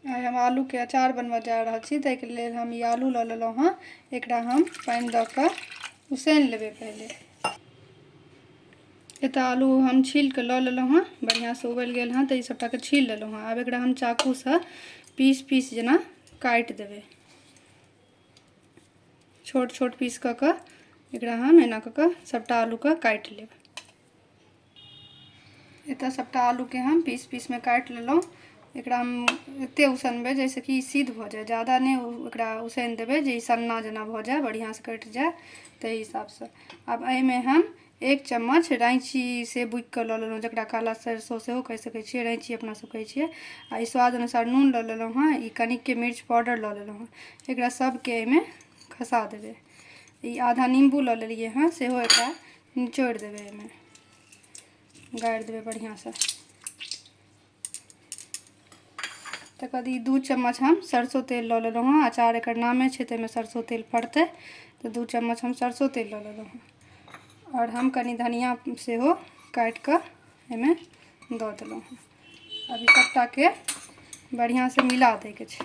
आइ हम आलूके अचार बनबऽ जा रहल छी ताहिके लेल हम ई आलू लऽ लेलहुँ हँ एकरा हम पानि दऽ कऽ उसनि लेबै पहिले एतऽ आलू हम छील कऽ लऽ लेलहुँ हँ बढ़िआँसँ उबलि गेल हँ तऽ ई सभटाके छील लेलहुँ हँ आब एकरा हम चाकूसँ पीस पीस जेना काटि देबै छोट छोट पीस कऽ कऽ एकरा हम एना कऽ कऽ सभटा आलूके काटि लेब एतऽ सभटा आलूके हम पीस पीसमे काटि लेलहुँ एकरा हम एतेक उसनबै जाहिसँ कि ई सिद्ध भऽ जाइ जादा नहि ओकरा उसनि देबै जे ई सन्ना जेना भऽ जाइ बढ़िआँसँ कटि जाइ ताहि हिसाबसँ आब एहिमे हम एक चम्मच रैँची से बुकिकऽ लऽ लेलहुँ जकरा काला सरिसो सेहो कहि सकै छिए रैँची अपनासब कहै छिए आओर ई स्वाद अनुसार नून लऽ लेलहुँ हँ ई कनिके मिर्च पाउडर लऽ लेलहुँ हँ एकरा सबके एहिमे खसा देबै ई आधा निम्बू लऽ लेलिए हँ सेहो एकरा निचोड़ि देबै एहिमे गाड़ि देबै बढ़िआँसँ तकर बाद ई दू चम्मच हम सरसो तेल लऽ लेलहुँ हँ अचार एकर नामे छै ताहिमे सरसो तेल पड़तै तऽ दू चम्मच हम सरसो तेल लऽ लेलहुँ हँ आओर हम कनि धनिया सेहो काटि कऽ एहिमे दऽ देलहुँ हँ अब ई सभटाके बढ़िआँसँ मिला दैके छै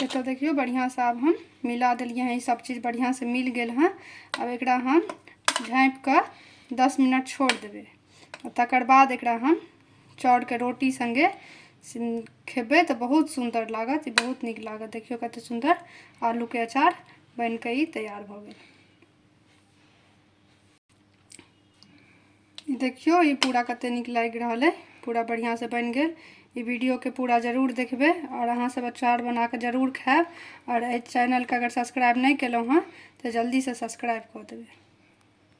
एतऽ देखियौ बढ़िआँसँ आब हम मिला देलियै हँ ई सब चीज बढ़िआँसँ मिल गेल हँ आब एकरा हम झाँपि कऽ दस मिनट छोड़ देबै तकर बाद एकरा हम चाउरके रोटी सङ्गे खेबै तऽ बहुत सुन्दर लागत ई बहुत नीक लागत देखियौ कतेक सुन्दर आलूके अचार बनि कऽ ई तैयार भऽ गेल देखियौ ई पूरा कते नीक लागि रहल अइ पूरा बढ़िआँसँ बनि गेल ई वीडियोके पूरा जरूर देखबै आओर अहाँसभ अचार बना कऽ जरूर खायब आओर एहि चैनलके अगर सब्सक्राइब नहि केलहुँ हँ तऽ जल्दीसँ सब्सक्राइब कऽ देबै